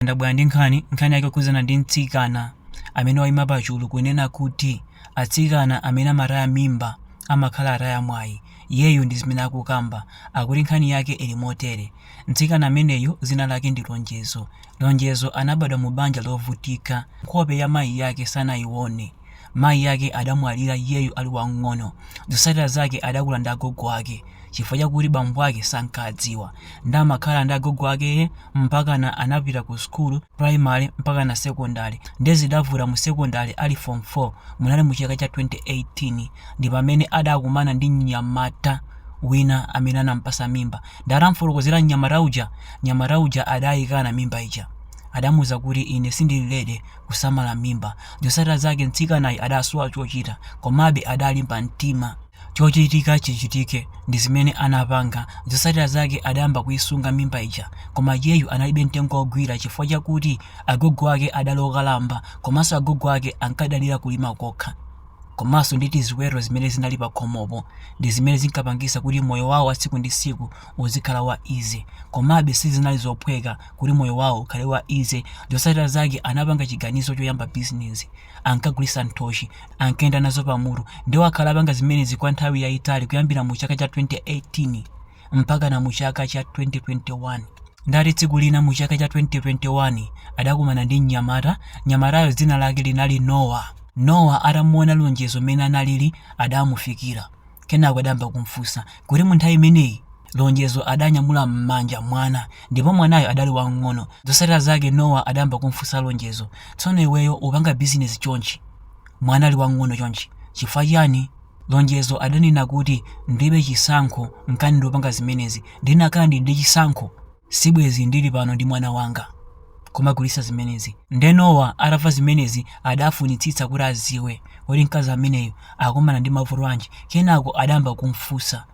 ndabwera ndi nkhani nkhani yake kukhudzana ndi mtsikana amene waima pachulu kunena kuti atsikana amene amataya mimba amakhala ataya mwayi iyeyu ndi zimene akukamba akuti nkhani yake ili motere mtsikana ameneyu dzina lake ndi lonjezo lonjezo anabadwa mu banja lovutika nkhope ya mayi yake sanayione Mayi ake adamwalira iyeyu ali wamng'ono. Zotsatira zake adakula ndi agogo ake chifukwa chakuti bambo ake sankadziwa nde amakhala ndi agogo akee mpakana anapita ku sukulu primary mpakana secondary nde zidavuta mu secondary ali form 4 munali mu chaka cha 2018 ndipamene adakumana ndi mnyamata wina amene anampasa mimba nde atamfotokozera mnyamata uja mnyamata uja adayikana mimba ija adamuuza kuti ine sindili ready kusamala mimba. Zotsatira zake mtsikanayu adasowa chochita komabe adalimba mtima. Chochitika chichitike ndi zimene anapanga. Zotsatira zake adayamba kuisunga mimba ija koma iyeyu analibe mtengo wogwira chifukwa chakuti agogo ake adali okalamba komanso agogo ake ankadalira kulima kokha komanso ndi tiziweto zimene zinali pakhomopo ndi zimene zinkapangitsa kuti moyo wawo wa tsiku ndi tsiku uzikhala wa easy. Komabe sizinali zophweka kuti moyo wawo ukhale wa easy zotsatira zake anapanga chiganizo choyamba business ankagulitsa nthochi ankayenda nazo pamutu ndiwo akhala akupanga zimenezi kwa nthawi yayitali kuyambira mu chaka cha 2018 mpakana mu chaka cha 2021 ndati tsiku lina mu chaka cha 2021 adakumana ndi mnyamata mnyamatayo dzina lake linali nowa nowa atamuona lonjezo mmene analili adamufikira Kenako adayamba kumfunsa kuti mu nthawi imeneyi Lonjezo adanyamula m'manja mwana ndipo mwanayo adali wamng'ono. Zotsatira zake Nowa adayamba kumfunsa Lonjezo, Tsono iweyo ukupanga bizinesi chonchi mwana ali wamng'ono chonchi chifukwa chiyani? Lonjezo adanena kuti, Ndilibe chisankho, nchani ndikupanga zimenezi. Ndikanakhala ndili ndi chisankho, Sibwenzi ndili pano ndi mwana wanga kumagulitsa zimenezi. Nde Nowa atamva zimenezi adafunitsitsa kuti adziwe kuti mkazi ameneyu akukumana ndi mavuto anji. Kenako adayamba kum'funsa,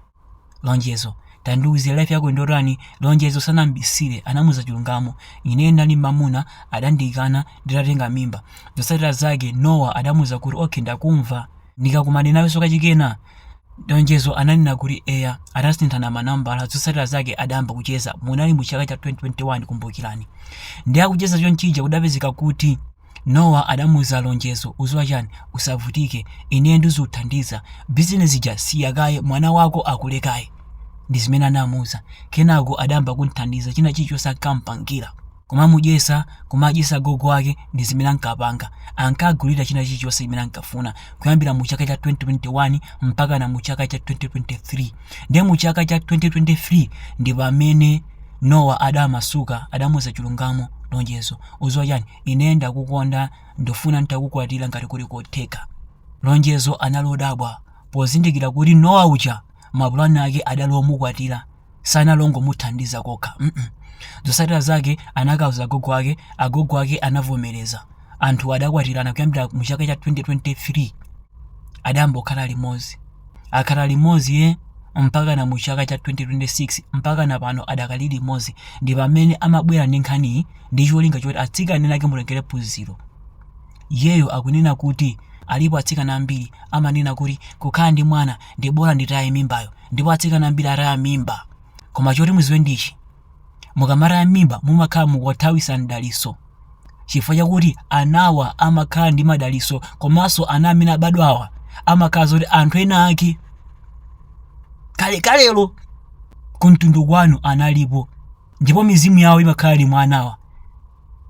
Lonjezo, tandiuze life yako ndiyotani? Lonjezo sanam'bisire, anamuuza chilungamo. Ineyo ndinali ndi mamuna, adandikana nditatenga mimba. Zotsatira zake Nowa adamuuza kuti, Ok, ndakumva. ndikakumane nawenso kachikena Lonjezo ananena kuti eya atasinthana manambala zotsatira zake adayamba kucheza munali mu chaka cha 2021 kumbukirani ndi akucheza chonchija kudapezeka kuti nowa adamuuza lonjezo ukudziwa chani usavutike ineyo ndizikuthandiza bizinesi ija siya kaye mwana wako akule kaye ndi zimene anamuuza kenako adayamba kumthandiza china chilichonse ankampangira kumamudyetsa kumadyetsa gogo wake ndi zimene ankapanga ankagulira china chilichonse chimene ankafuna kuyambira mu chaka cha 2021 mpakana mu chaka cha 2023 ndiye mu chaka cha 2023 ndi pamene nowa adamasuka adamuza chilungamo lonjezo udziwa chani ine ndakukonda ndifuna nditakukwatira ngati kuli kotheka lonjezo anali odabwa pozindikira kuti nowa uja mapulani ake adali omukwatira sanali ongomuthandiza kokha mm -mm. zotsatira zake anakauza agogo ake agogo ake anavomereza anthu adakwatirana kuyambira mu chaka cha 2023 adayamba kukhala limodzi akhala limodzi ye mpakana mu chaka cha 2026 mpakana pano adakali limodzi ndi pamene amabwera ndi nkhaniyi ndi cholinga choti atsikana ake mutengere phunziro iyeyo akunena kuti alipo atsikana ambiri amanena kuti kukhala ndi mwana ndi bola nditaye mimbayo ndipo atsikana ambiri ataya mimba koma choti muziwe ndichi mukamataya mimba mumakhala mukuwathawitsa mdalitso chifukwa chakuti anawa amakhala ndi madalitso komanso ana amene amabadwawa amakhala zoti anthu ena ake kalekalelo kumtundu kwanu analipo ndipo mizimu yawo imakhala ili mwa anawa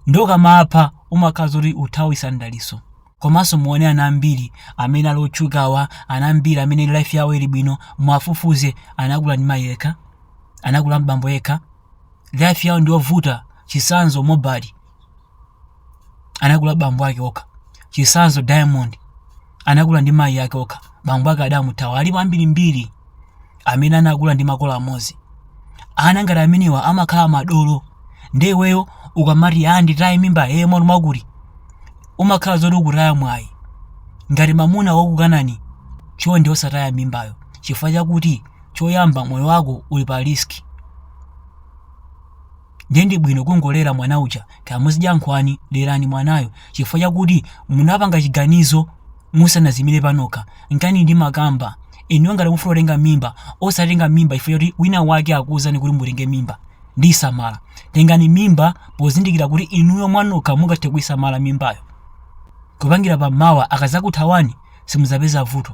nde ukamapha umakhala zoti ukuthawitsa mdalitso komanso muone ana ambiri amene ali otchukawa ana ambiri amene life yawo ili bwino muwafufuze anakula ndi mayi yekha anakula ndi bambo yekha life yawo ndiyovuta chitsanzo mobali anakula ndi bambo ake okha chitsanzo diamond anakula ndi mayi ake okha bambo ake adamuthawa alipo ambirimbiri amene anakula ndi makolo amodzi ana ngati amenewa amakhala madolo nde iweyo ukamati ya nditaye mimba iyeye mwana mwakuti umakhala zoti ukutaya mwayi ngati mamuna wakukanani chonde osataya mimbayo chifukwa chakuti choyamba moyo wako uli pa risk ndiye ndi bwino kungolera mwana uja kaya muzidya nkhwani lerani mwanayo chifukwa chakuti munapanga chiganizo musanaziyimire panokha nchani ndimakamba inuyo ngati mufuna kutenga mimba osatenga mimba chifukwa choti wina wake akuwuzani kuti mutenge mimba ndiyisamala tengani mimba pozindikira kuti inuyo mwanokha mungathe kuyisamala mimbayo kupangira pamawa akadzakuthawani simudzapeza vuto